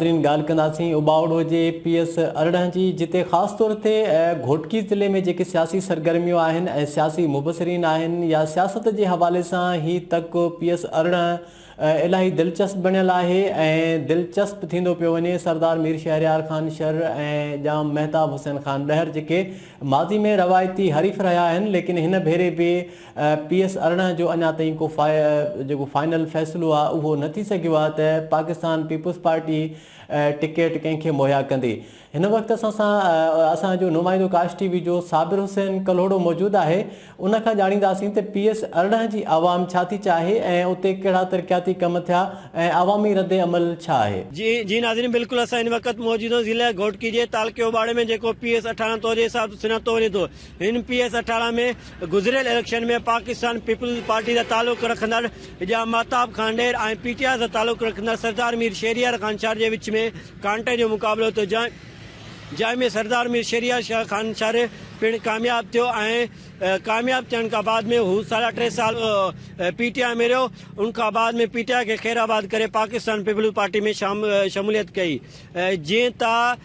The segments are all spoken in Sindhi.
ناظرين ڳالهه ڪنداسين اٻاوڙو جي اي پي ايس ارڙهن جي جتي خاص طور تي گهوٽڪي ضلعي ۾ جيڪي سياسي سرگرميون آهن ۽ سياسي مبصرين آهن يا سياست جي حوالي سان هي تڪ پي ايس ارڙهن الاهي دلچسپ بڻيل آهي ۽ دلچسپ ٿيندو پيو وڃي سردار مير شهريار خان شر ۽ ڄام مهتاب حسين خان ڏهر جيڪي ماضي ۾ روايتي حريف رهيا آهن ليڪن هن ڀيري به پي ايس ارڙهن جو اڃا تائين ڪو جيڪو فائنل فيصلو آهي اهو نه ٿي سگهيو آهي ته پاڪستان پيپلز پارٽي ٽڪيٽ ڪنهن کي مهيا ڪندي هن وقت اسان سان اسان جو نمائندو ڪاش ٽي وي جو صابر حسين ڪلهوڙو موجود آهي ان کان ڄاڻينداسين ته پي ايس ارڙهن جي عوام ڇا ٿي چاهي ۽ اتي ڪهڙا ترقياتي ڪم ٿيا ۽ عوامي رد عمل ڇا آهي. جي جي ناظرين بلڪل اسان هن وقت موجود آهيون ضلعي گهوٽڪي جي تعلقي اوٻاڙي ۾ جيڪو پي ايس ارڙهن طور جي حساب سان سڃاتو وڃي ٿو. اين پي ايس اٺارهن ۾ گذريل اليڪشن ۾ پاڪستان پيپلز پارٽي سان تعلق رکندڙ اجاء ماهتاب خانڊير ۽ پي ٽي آء سان تعلق رکندڙ سردار مير شهريار خانشار جي وچ ۾ ڪانٽي جو مقابلو ٿيو جنهن جنهن ۾ سردار مير شهريار شاهه خانشار پڻ ڪامياب ٿيو ۽ ڪامياب ٿيڻ کان بعد ۾ هو ساڍا ٽي سال پي ٽي آء ۾ رهيو ان کان بعد ۾ پي ٽي آء کي خير آباد ڪري پاڪستان پيپلز پارٽي ۾ شموليت ڪئي جيئن ته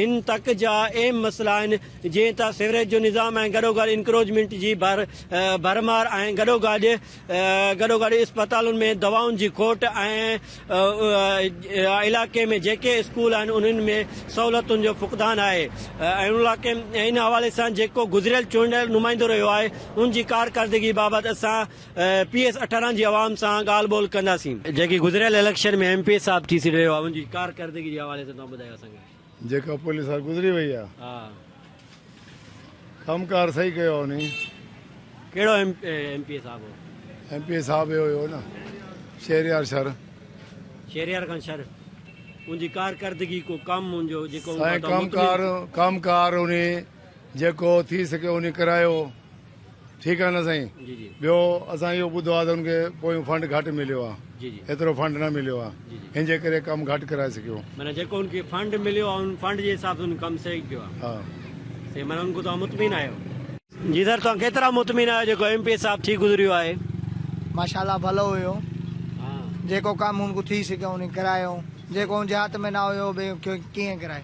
هن تڪ جا اهم مسئلا آهن جيئن ته سيوريج جو نظام ۽ گڏوگڏ انڪروچمينٽ جي ڀرمار ۽ گڏوگڏ گڏوگڏ اسپتالن ۾ دوائن جي کوٽ ۽ علائقي ۾ جيڪي اسڪول آهن انهن ۾ سهولتن جو فقدان آهي ان حوالي سان جيڪو گذريل چونڊيل نمائندو رهيو آهي ان جي ڪارڪردگي بابت اسان پي ايس اٺارهن جي عوام سان ڳالهه ٻولهه ڪنداسين. جيڪي گذريل اليڪشن ۾ ايم پي ايس صاحب ٿي سڏ رهيو آهي ان جي ڪارڪردگي جي حوالي سان توهان ٻڌايو اسان کي. جيڪا پولي سال گذري وئي آ ڪم ڪار صحيح ڪيو آ انهي. ڪهڙو ايم ايم پي اي صاحب هو. ايم پي اي صاحب اهو هو نه شهريار شر. شهريار خان شر ان جي ڪارڪردگي ڪو ڪم ان جو جيڪو سائين ڪم ڪار ڪم ڪار انهي جيڪو ٿي سگهيو انهي ڪرايو. ٺيڪ آ نه سائين ٻيو اسان اهو ٻڌو آ ته ان کي پويون فنڊ گهٽ مليو آ ايترو فنڊ نه مليو آ ان جي ڪري ڪم گهٽ ڪرائي سگهيو معنيٰ جيڪو ان کي فنڊ مليو آ ان فنڊ جي حساب سان ڪم صحيح ڪيو آ ها سائين معنيٰ ان کان توهان مطمئن آهيو جي سر توهان ڪيترا مطمئن آهيو جيڪو ايم پي اي صاحب ٿي گذريو آهي ماشاءالله ڀلو هيو جيڪو ڪم ان کان ٿي سگهيو ان ڪرايو جيڪو ان جي هٿ ۾ نه هيو ڪيئن ڪرائي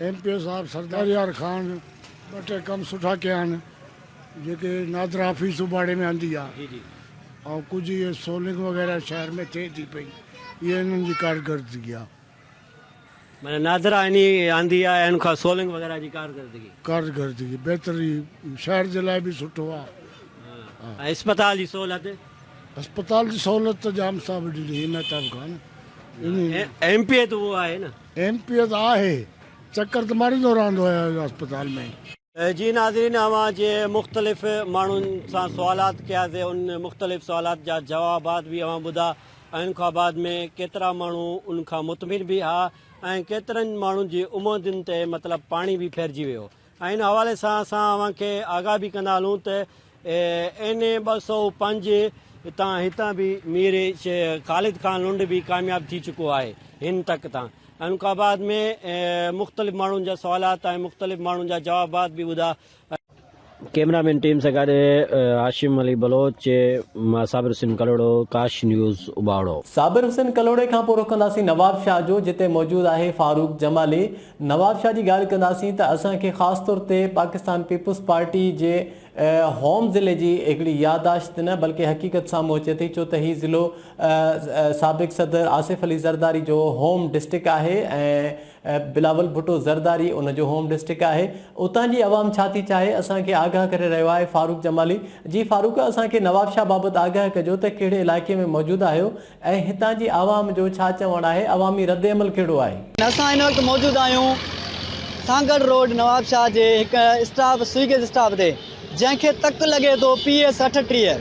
ايم پي او صاحب سردار يار خان ٻه ٽي ڪم سٺا ڪيا آهن جيڪي نادرا حفيظ اٻاڙي ۾ آندي آ ۽ ڪجهه اهي سولنگ وغيره شهر ۾ ٿئي ٿي پئي اهي انهن جي ڪارڪردگي آ. معنيٰ نادرا انهي آندي آ ان کان سولنگ وغيره جي ڪارڪردگي. ڪارڪردگي بهتر هي شهر جي لاء به سٺو آ. ۽ اسپتال جي سهولت. اسپتال جي سهولت ته ڄام صاحب ڏني ايم احتاب خان. ايم پي اي ته اهو آهي نه. ايم پي ايس آهي چڪر ته ماريندو رهندو آهي اسپتال ۾. جي ناظرين اوهان جي مختلف ماڻهن سان سوالات ڪيا سي ان مختلف سوالات جا جوابات به اوهان ٻڌا ۽ ان کان بعد ۾ ڪيترا ماڻهو ان کان مطمئن به ها ۽ ڪيترن ماڻهن جي اموندين تي مطلب پاڻي به ڦرجي ويو ۽ ان حوالي سان اسان اوهان کي آگاهه به ڪندا هلون ته اين اي ٻه سؤ پنج تان هتان به مير خالد خان لنڊ به ڪامياب ٿي چڪو آهي هن تڪ تان ان کان بعد ۾ مختلف ماڻهن جا سوالات ۽ مختلف ماڻهن جا جوابات به ٻڌا ڪيمرا مين ٽيم سان گڏ هاشم علي بلوچ مان صابر حسين ڪلهوڙو ڪاش نيوز اباڙو. صابر حسين ڪلهوڙي کان پورو ڪنداسين نوابشاهه جو جتي موجود آهي فاروق جمالي. نواب شاهه جي ڳالهه ڪنداسين ته اسان کي خاص طور تي پاڪستان پيپلز پارٽي جي هوم ضلعي جي هڪڙي يادداشت نه بلڪه حقيقت سامهون اچي ٿي ڇو ته هي ضلعو سابق صدر آصف علي زرداري جو هوم ڊسٽرڪٽ آهي ۽ بلاول ڀٽو زرداري ان جو هوم ڊسٽرڪٽ آهي اتان جي عوام ڇا ٿي چاهي اسان کي آگاهه ڪري رهيو آهي فاروق جمالي جي فاروق اسان کي نواب شاهه بابت آگاهه ڪجو ته ڪهڙي علائقي ۾ موجود آهيو ۽ هتان جي عوام جو ڇا چوڻ آهي، عوامي ردعمل ڪهڙو آهي؟ اسان هن وقت موجود آهيون سانگهڙ روڊ نوابشاهه جي هڪ اسٽاپ سوئيگيز اسٽاپ تي جنهن کي تڪ لڳي ٿو پي ايس اٺٽيهه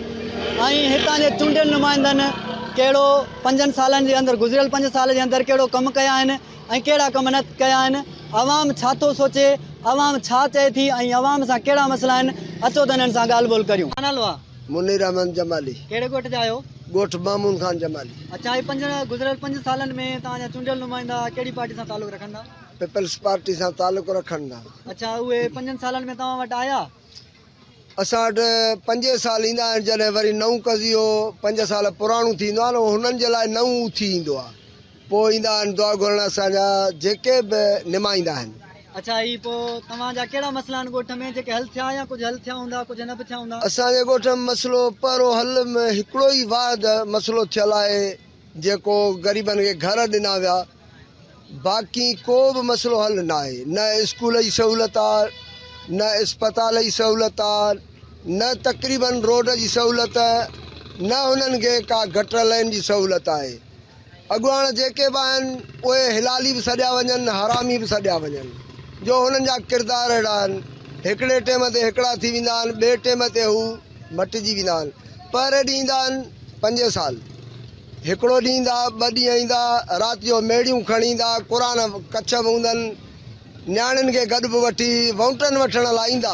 ۽ هتان جي چونڊيل نمائندن ڪهڙو پنجن سالن جي اندر گذريل پنج سال جي اندر ڪهڙو ڪم ڪيا آهن ۽ ڪهڙا ڪم نه ڪيا آهن عوام ڇا ٿو سوچي عوام ڇا چئي ٿي ۽ عوام سان ڪهڙا مسئلا آهن اچو ته هنن سان ڳالهه ٻولهه ڪريون. منير احمد جمالي. ڪهڙي ڳوٺ جا آهيو؟ ڳوٺ مامون خان جمالي. اڇا هي پنج گذريل پنج سالن ۾ توهان جا چونڊيل نمائندا ڪهڙي پارٽي سان تعلق رکن ٿا؟ پيپلز پارٽي سان تعلق رکن ٿا. اڇا اهي پنجن سالن ۾ توهان وٽ آيا؟ اسان وٽ پنجين سال ايندا آهن جڏهن وري نئون قضيو پنج سال پراڻو ٿيندو آهي نه انهن جي لاء نئون اٿي ايندو آهي. پوء ايندا آهن دعا گهرڻ اسان جا جيڪي به نمائيندا آهن. اڇا هي پوء توهان جا ڪهڙا مسئلا آهن ڳوٺ ۾ جيڪي حل ٿيا يا ڪجهه حل ٿيا هوندا ڪجهه نه به ٿيا هوندا. اسان جي ڳوٺ ۾ مسئلو پهرو حل ۾ هڪڙو ئي واحد مسئلو ٿيل آهي جيڪو غريبن کي گهر ڏنا ويا باقي ڪو به مسئلو حل نه آهي نه اسڪول جي سهولت آ نه اسپتال جي سهولت آ نه تقريبن روڊ جي سهولت نه هنن کي ڪا گٽر لين جي سهولت آهي. اڳواڻ جيڪي به آهن اهي هلالي به سڏيا وڃن حرامي به سڏيا وڃن جو هنن جا ڪردار اهڙا آهن هڪڙي ٽيم تي هڪڙا ٿي ويندا آهن ٻئي ٽيم تي هو مٽجي ويندا آهن پهري ڏينهن ايندا آهن پنجين سال هڪڙو ڏينهن ايندا ٻه ڏينهن ايندا رات جو ميڙيون کڻي ايندا قرآن ڪڇ به هوندن نياڻين کي گڏ به وٺي وونٽن وٺڻ لاء ايندا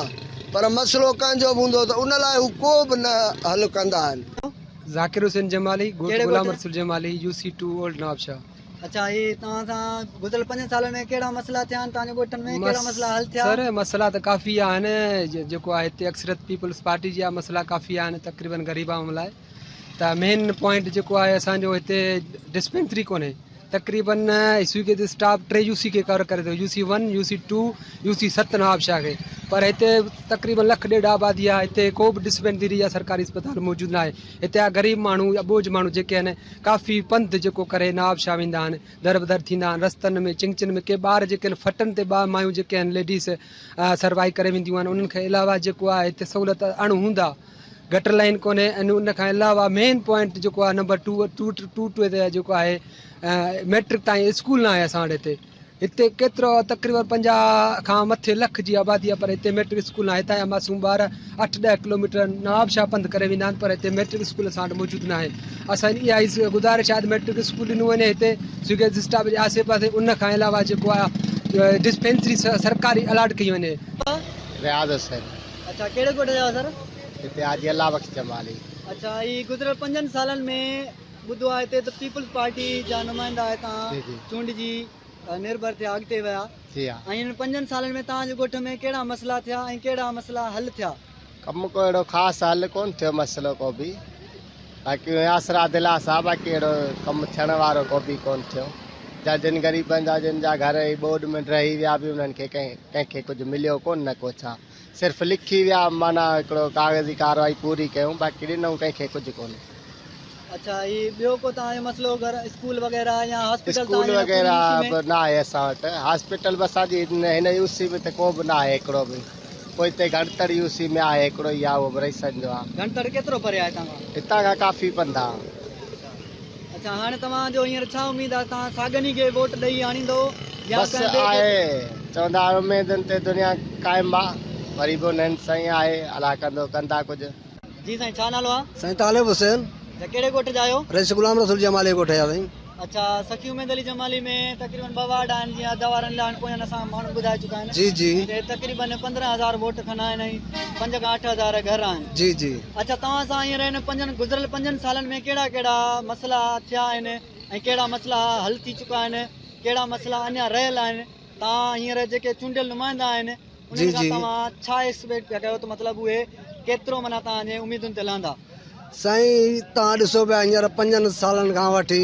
پر مسئلو ڪنهن جو به هوندو ته ان لاء هو ڪو به نه حل ڪندا آهن ذاڪر حسين جمالي، ڳوٺ Ghulam Rasool Jamali, U C two, old Nawabshah. اڇا هي توهان سان گذريل پنجن سالن ۾ ڪهڙا مسئلا ٿيا آهن توهان جي ڳوٺن ۾ ڪهڙا مسئلا حل ٿيا؟ سر مسئلا ته ڪافي آهن جيڪو آهي هتي اڪثريت پيپلز پارٽي جي آهي مسئلا ڪافي آهن تقريبن غريب عوام لاء ته مين پوائنٽ جيڪو آهي اسان جو هتي ڊسپينسري ڪونهي تقريبن يوسي کي اسٽاف ٽي يوسي کي ڪور ڪري ٿو UC one UC two UC ست نوابشاهه کي پر هتي تقريبن لک ڏيڍ آبادي آهي هتي ڪو به ڊسپينسري يا سرڪاري اسپتال موجود ناهي هتي جا غريب ماڻهو اٻوجهه ماڻهو جيڪي آهن ڪافي پنڌ جيڪو ڪري نوابشاهه ويندا آهن در به در ٿيندا آهن رستن ۾ چنگچن ۾ ڪي ٻار جيڪي آهن فٽن تي ٻار مايون جيڪي آهن ليڊيز سروايو ڪري وينديون آهن انهن کي علاوه جيڪو آهي هتي سهولت اڻ هوندا گٽر لائين ڪونهي ۽ ان کان علاوه مين پوائنٽ جيڪو آهي number two two two two تي جيڪو آهي ميٽرڪ تائين اسڪول ناهي اسان وٽ هتي هتي ڪيترو تقريبن پنجاهه کان مٿي لک جي آبادي آهي پر هتي ميٽرڪ اسڪول ناهي هتان جا معصوم ٻار اٺ ڏهه ڪلوميٽر نواب شاهه پنڌ ڪري ويندا آهن پر هتي ميٽرڪ اسڪول اسان وٽ موجود ناهي اسان جي اها ئي گذارش آهي ميٽرڪ اسڪول ڏنو وڃي هتي سوگيز اسٽاپ جي آسي پاسي ان کان علاوه جيڪو آهي ڊسپينسري سرڪاري الاٽ ڪئي وڃي رياض حسين اڇا ڪهڙي ڳوٺ جا آهيو سر؟ هتي حاجي الله بخش جمالي. اڇا هي گذريل پنجن سالن ۾ ٻڌو آهي هتي ته پيپلز پارٽي جا نمائندا هتان جي جي. چونڊجي نرڀر ٿيا اڳتي ويا جي ها. ۽ هنن پنجن سالن ۾ توهان جي ڳوٺ ۾ ڪهڙا مسئلا ٿيا ۽ ڪهڙا مسئلا حل ٿيا؟ ڪم ڪو اهڙو خاص حل ڪون ٿيو مسئلو ڪو به. باقي ياسر عادلان سان باقي اهڙو ڪم ٿيڻ وارو ڪو به ڪونه ٿيو جا جن غريبن جا جن جا گهر اهي ٻوڏ ۾ ڊهي ويا به انهن کي ڪنهن کي ڪجهه مليو ڪونه نه ڪو ڇا صرف لکي ويا معنيٰ هڪڙو ڪاغذي ڪارروائي پوري ڪيون باقي ڏنون ڪنهن کي ڪجهه ڪونه اڇا هي ٻيو ڪو توهان جو مسئلو گهر اسڪول وغيره يا هاسپيٽل اسڪول وغيره به ناهي اسان وٽ هاسپيٽل به اسان جي هن يوسي ۾ ته ڪو به ناهي هڪڙو به پوء هتي گهڻتڙ يو سي ۾ آهي هڪڙو يا اهو به رهي سگهندو آهي. گهڻتڙ ڪيترو پري آهي هتان کان؟ هتان کان ڪافي پنڌ آهي. اڇا هاڻي توهان جو هينئر ڇا اميد آهي توهان ساڳن ئي کي ووٽ ڏئي آڻيندؤ يا بس ڪنهن ٻئي کي؟ آهي چوندا آهن اميدن تي دنيا قائم آهي وري به انهن سائين آهي الاء ڪندو ڪندا ڪجهه. جي سائين ڇا نالو آ. سائين طالب حسين. اچا ڪهڙي ڳوٺ جا آهيو. رئيس غلام رسول جمالي جي ڳوٺ جا سائين. اچا سخي اميد علي جمالي ۾ تقريبن ٻه وارڊ آهن جيئن ادا وارن لاء هن پويان اسان ماڻهو ٻڌائي چڪا آهن جي جي ۽ تقريبن پندرهن هزار ووٽ کن آهن ۽ پنج کان اٺ هزار گهر آهن جي جي اچا توهان سان هينئر هن پنجن گذريل پنجن سالن ۾ ڪهڙا ڪهڙا مسئلا ٿيا آهن ۽ ڪهڙا مسئلا حل ٿي چڪا آهن ڪهڙا مسئلا اڃا رهيل آهن توهان هينئر جيڪي چونڊيل نمائندا آهن انهن کان توهان ڇا ايڪسپيڪٽ پيا ڪيو ته مطلب اهي ڪيترو معنيٰ توهان جي اميدن تي لهندا؟ سائين توهان ڏسو پيا هينئر پنجن سالن کان وٺي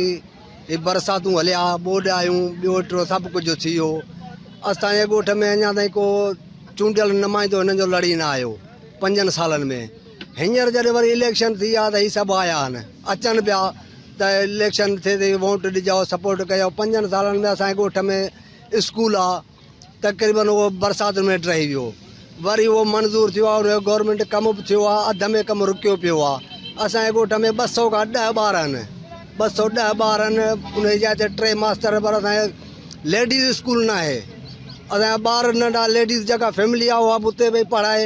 هي برساتون هليا، ٻوڏ آيون، ٻيو ٽيو سڀ ڪجهه ٿي ويو. اسان جي ڳوٺ ۾ اڃا تائين ڪو چونڊيل نمائندو هنن جو لڙي نه آيو پنجن سالن ۾. هينئر جڏهن وري اليڪشن ٿي آ ته هي سڀ آيا آهن، اچن پيا ته اليڪشن ٿئي ته ووٽ ڏجو، سپورٽ ڪيو. پنجن سالن ۾ اسان جي ڳوٺ ۾ اسڪول آ، تقريبن اهو برساتن ۾ هيٺ رهي ويو وري اهو منظور ٿيو آهي ان جو گورنمينٽ ڪم به ٿيو آهي اڌ ۾ ڪم رڪيو پيو آهي اسان جي ڳوٺ ۾ ٻه سؤ کان ڏهه ٻار آهن ٻه سؤ ڏهه ٻار آهن ان جي جاء تي ٽي ماستر پر اسان جي ليڊيز اسڪول ناهي اسان جا ٻار ننڍا ليڊيز جيڪا فيملي آهي اها به اتي ويهي پڙهائي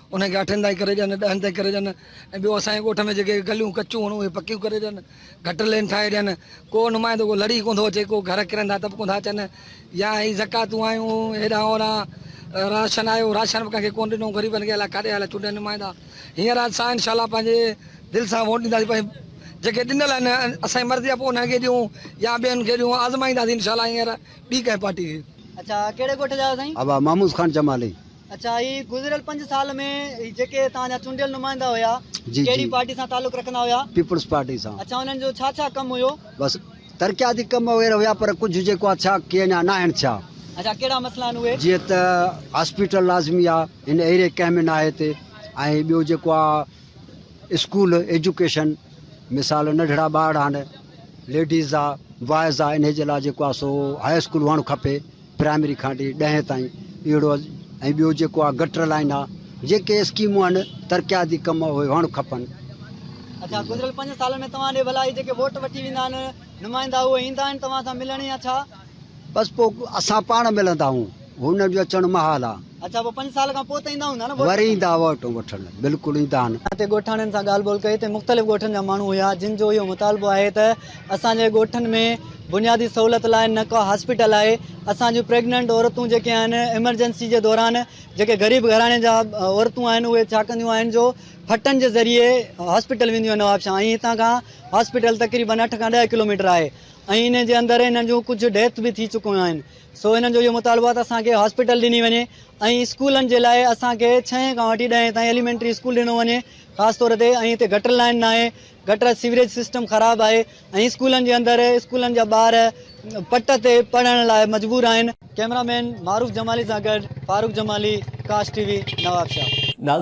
انهن کي اٺن تائين ڪري ڏين، ڏهن تائين ڪري ڏين ۽ ٻيو اسان جي ڳوٺ ۾ جيڪي گليون ڪچيون هئڻ اهي پڪيون ڪري ڏين، گٽر لين ٺاهي ڏين، ڪو نمائندو ڪو لڙي ڪونه ٿو اچي، ڪو گهر ڪرندا ته به ڪونه ٿا اچن يا هي زڪاتون آيون هيڏانهن هوڏانهن راشن آيو، راشن به ڪنهن کي ڪونه ڏنو غريبن کي الاء ڪاڏي هليا چونڊيل نمائندا، هينئر اسان انشاء الله پنهنجي دل سان ووٽ ڏينداسين پر جيڪي ڏنل آهن اسان جي مرضي آهي پوء انهن کي ڏيون يا ٻين کي ڏيون آزمائينداسين انشاء الله هينئر ٻي ڪنهن پارٽي کي. اچا ڪهڙي ڳوٺ جا آهيو سائين؟ ابا محمود خان چمالي. اچا هي گذريل پنج سال ۾ جيڪي توهان جا چونڊيل نمائندا هيا ڪهڙي پارٽي سان تعلق رکندا هيا پيپلز پارٽي سان اچا انهن جو ڇا ڇا ڪم هيو بس ترقياتي ڪم وغيره هيا پر ڪجهه جيڪو آ ٿيا ڪي اڃا ناهن ٿيا اچا ڪهڙا مسئلا آهن اهي جيئن ته هاسپيٽل لازمي آ هن ايري ڪنهن ۾ ناهي هتي ۽ ٻيو جيڪو آ اسڪول ايجوڪيشن مثال ننڍڙا ٻارڙا آهن ليڊيز آ بوائز آ انهي جي لاء جيڪو آ سو هاء اسڪول هئڻ کپي پرائمري کان ٽي ڏهين تائين اهڙو ۽ ٻيو جيڪو آ گٽر لائين آ جيڪي اسڪيمون آهن ترقياتي ڪم اهي هئڻ کپن. اڇا گذريل پنج سالن ۾ توهان ڏي ڀلا هي جيڪي ووٽ وٺي ويندا آهن نمائندا اهي ايندا آهن توهان سان ملڻ يا ڇا؟ بس پوء اسان پاڻ ملندا آهون هنن جو اچڻ محال آ. اچا پوء پنج سال کان پوء ته ايندا هوندا نه ووٽ وٺڻ. وري ايندا ووٽون وٺڻ بلڪل ايندا نه. اتي ڳوٺاڻين سان ڳالهه ٻولهه ڪئي تي مختلف ڳوٺن جا ماڻهو هيا جن جو اهو مطالبو آهي ته اسان جي ڳوٺن ۾ بنيادي سهولت لاء نه ڪا هاسپيٽل آهي اسان جون پريگننٽ عورتون جيڪي آهن ايمرجنسي جي دوران جيڪي غريب گهراڻي جا عورتون آهن اهي ڇا ڪنديون آهن جو ڦٽن جي ذريعي هاسپيٽل وينديون آهن نوابشاهه ۽ هتان کان هاسپيٽل تقريبن اٺ کان ڏهه ڪلوميٽر آهي ۽ انهي جي اندر انهن جون ڪجهه ڊيٿ به ٿي چڪيون آهن. سو هنن جو اهو مطالبو آهي ته اسان کي هاسپيٽل ڏني وڃي ۽ اسڪولن جي لاء اسان کي ڇهين کان وٺي ڏهين تائين ايليمينٽري اسڪول ڏنو وڃي خاص طور تي ۽ هتي گٽر لائين ناهي گٽر سيوريج سسٽم خراب آهي ۽ اسڪولن جي اندر اسڪولن جا ٻار پٽ تي پڙهڻ لاء مجبور آهن. ڪيمرا مين معروف جمالي سان گڏ فاروق جمالي ڪاش ٽي وي نوابشاهه. ناظرين!